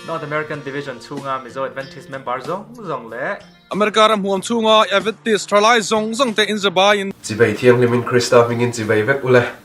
North American Division chunga Mizo Adventist member zong zong le America ram huam chunga Adventist thalai zong zong te in zabai in Chivei thianghlim in Krista hmingin chivei vek ule.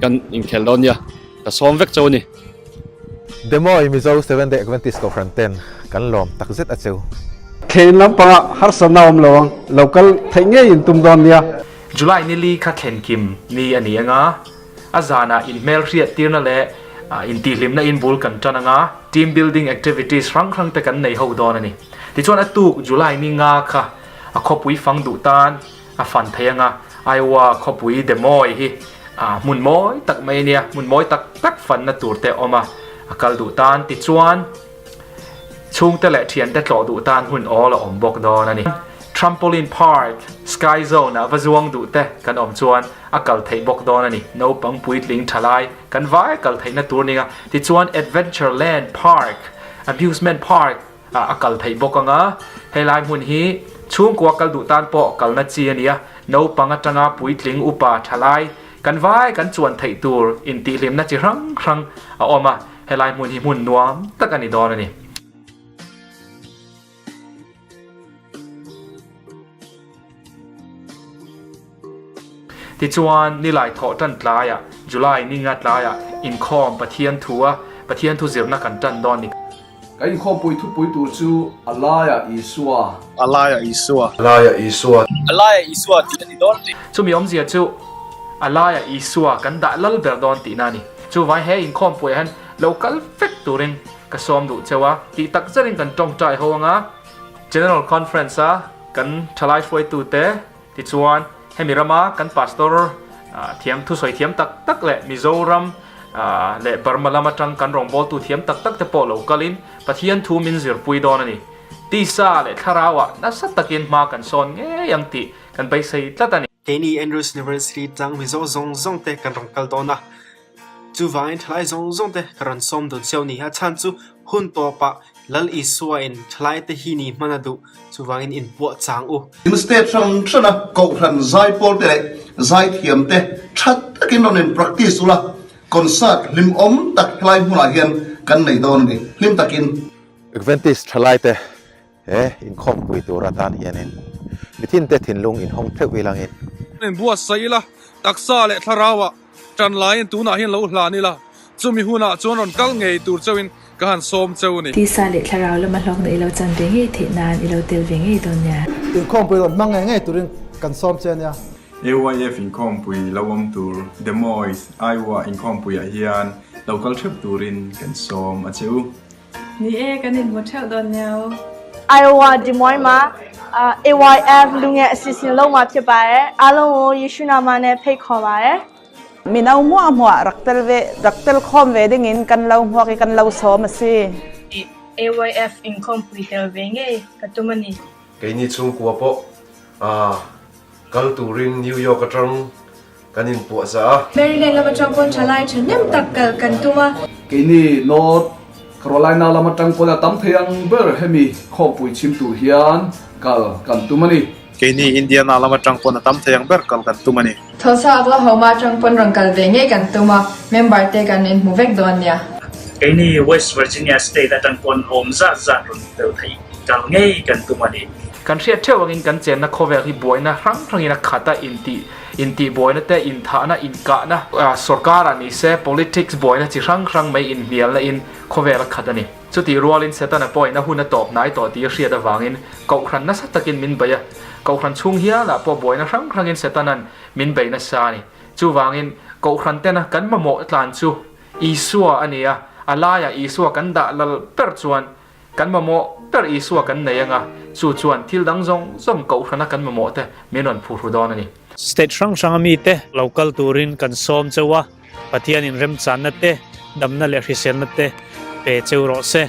Kan inkhel dawn nia, ka sawm vek cho a ni. Demoy, Mizo Seven Day Adventist Kohhran ten kan lawm tak zet a cheu. Thlen lampanga harsa na awm lo ang, lo kal theih ngei in tum dawn nia. July nili kha thlenkim ni a ni anga, a zanah inhmelhriat tirna leh intihhlimna in bul kan tan anga, team building activities hrang hrang te kan nei ho dawn a ni. Tichuan a tuk July ni nga kha a khawpui fang duh tan A fan thei anga Iowa khawpui demawi hi hmun mawi tak mai ania, hmun mawi tak tak fanna tur te awm a, a kal duh tan. Tichuan, chhungte leh thiante tlawh duh tan hmun awl a awm bawk dawn a ni. Trampoline Park, Sky Zone ah va zuang duh te kan awm chuan a kal theih bawk dawn a ni. Naupang puitling tha lai kan vai kal theihna tur ninga. Tichuan, Adventure Land Park, Amusement Park, ah a kal theih bawk anga, helai hmun hi chhungkua kal duh tan pawh kalna chi a ni a, naupang atanga puitling upa thalai kan vai kan chuan theih tur intihlîmna chi hrang hrang a awm a, helai hmun hi hmun nuam tak a ni dawn a ni. Tichuan, nilai thawh tan tlaiah, July ninga tlaiah inkhawm Pathian thu a, Pathian thu zirna kan tan dawn ni. Ka inkhawm pui thupui tur chu a laia Isua. A laia Isua. A laia Isua. A laia Isua tih a ni dawn tih. Chumi awmzia chu a laia Isua kan dah lal ber dawn tihna a ni. Chu vai he inkhawm puiah hian lo kal fek turin ka sawm duh cheu a, tih takzet in kan tawngtai ho anga, General Conference a kan thalai hruaitute tichuan hemi rama kan Pastor thiam thusawi thiam tak tak leh Mizoram leh Burma lam atang kan rawngbawltu thiam tak tak te pawh lo kalin Pathian thu min zirpui dawn a ni. Tisa leh thlarauah nasa takin hma kan sawn ngei ang tih kan beisei tlat a ni. Keini Andrews University tlang Mizo zawng zawngte kan rawn kal dawn a, Chuvangin thalai zawng zawng te ka rawn sawm dun sio ni a chhan chu hun tawp ah Lal Isua in thalai te hi ni hman a duh chuvangin in puah chang u. In step hran hran a kohhran zai pawl te leh zai thiam te tha tak in rawn in practice ula concert hlim awm tak helai hmun ah hian kan nei dawn a ni hlim tak in. Adventist thalai te. He inkhawmpui tur atan hianin mithinte thinlung inhawng theuh ilangin. In buatsaih ila, taksa leh thlarauva tan laiin tunah hian lo hlan ila, chumi hunah chuan rawn kal ngei tur chauhin ka han sawm chau a ni. Tisa leh thlarau lama hlawkna ilo chan ve ngei theih nan ilo tel ve ngei dawn nia. Inkhawmpui rawn hmang ngei ngei turin kan sawm che nia. AYF inkhawmpui lo awm tur Des Moines, Iowa inkhawmpuiah hian lo kal theuh turin kan sawm a che u. Ni e, kan inhmu theuh dawn nio. Iowa, Des Moines ma AYF lu nge asi sin lo ma phia pae, a lo ngo Jesuh na ma ne phei kho pae. Mino hmuah hmuah rak tel ve, rak tel khawm ve ding in kan lo hmuak i kan lo sawm asi. AYF inkhawm pui tel ve ngei ka tum ani. Kei ni chhungkua pawh aa kal turin New York atang. kan in puah za a. Maryland lam atang pawn tha lai tha nem tak kal kan tum a. Keini North Carolina lam atang pawn a tam thei ang ber hemi khawmpui chhim tur hian kal kan tum a ni. Keini Indiana lam atang pawn a tam thei ang ber kal kan tum a ni. Tulsa Oklahoma atang pawn rawn kal ve ngei kan tum a, member te kan in hmu vek dawn nia. Keini West Virginia state atang pawn awm zat zat rawn tel thei kal ngei kan tum a ni. Kan hriat theuh angin kan chenna khawvel hi buaina hrang hrangin a khat a, intih. Intihbuaina te, inthahna, inkahna, sorkara nise politics buaina chi hrang hrang mai inhnialnain khawvel a khat a ni. Chutih rualin Setana point-a hun a tawp hnai tawh tih a hriat avangin kohhran nasa takin min bei a. Kohhran chhung hialah pawh buaina hrang hrangin Setana'n min bei nasa a ni. Chuvangin, kohhrantena kan mamawh tlan chu Isua a nia, a laiah Isua kan dah lal ber chuan, Kan mamawh ber Isua kan nei anga, chu chuan thil dang zawng zawng kohhrana kan mamawh te min rawn phu hru dawn a ni. State hrang hranga mite lo kal turin kan sawm cheu a, Pathian in remchanna te, damna leh hriselna te pe cheu rawh se.